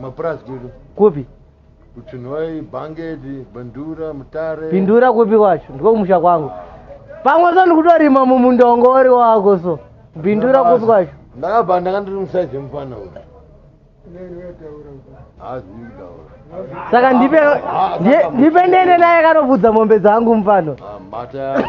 Mapurazi kudu. Kupi? Kuchinhoyi, Bangedi, Bindura, Mutare. Bindura kupi kwacho? Ndiko kumusha kwangu. Pamwe so ndikutorima mumundongo uri wako so. Bindura kupi kwacho? Ndakabva ndanga ndiri musaizi yemufana uyu. Saka ndipe ndipe ndene naye kanobvudza mombe dzangu mufano. Ah, mata yako.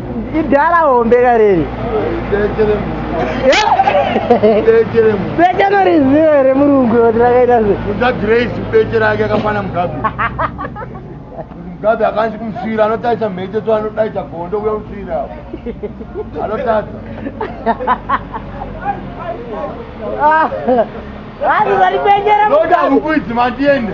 idhala hombe kareri bekeno riziva here murungu kuti rakaita seagrace beche rake akafana mugabe mugabe akanzi kumusvira anotaisa mhete so anodaita gondo uya kusvira anotadza ah, vanhu vari beche remugabe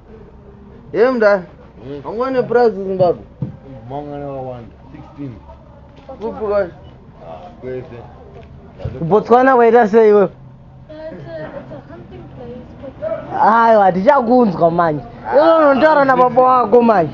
Hey mdara, Yes. wangwane price Zimbabwe? Mangana wawanda 16 Kupi kwa? Ah, kwese kubotswana kwaita sei iwewe aiwa tichakunzwa manje inonotaura nababa wako manje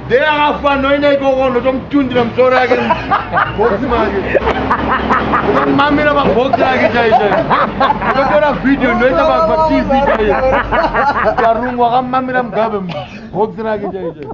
Dei akafa anoenda ikoko ndotomutundira musoro yake box make ndomamira pabox yake chaizvo ndotora video ndoita patv chaiyo karungu akamamira mugabe box rake chaizvo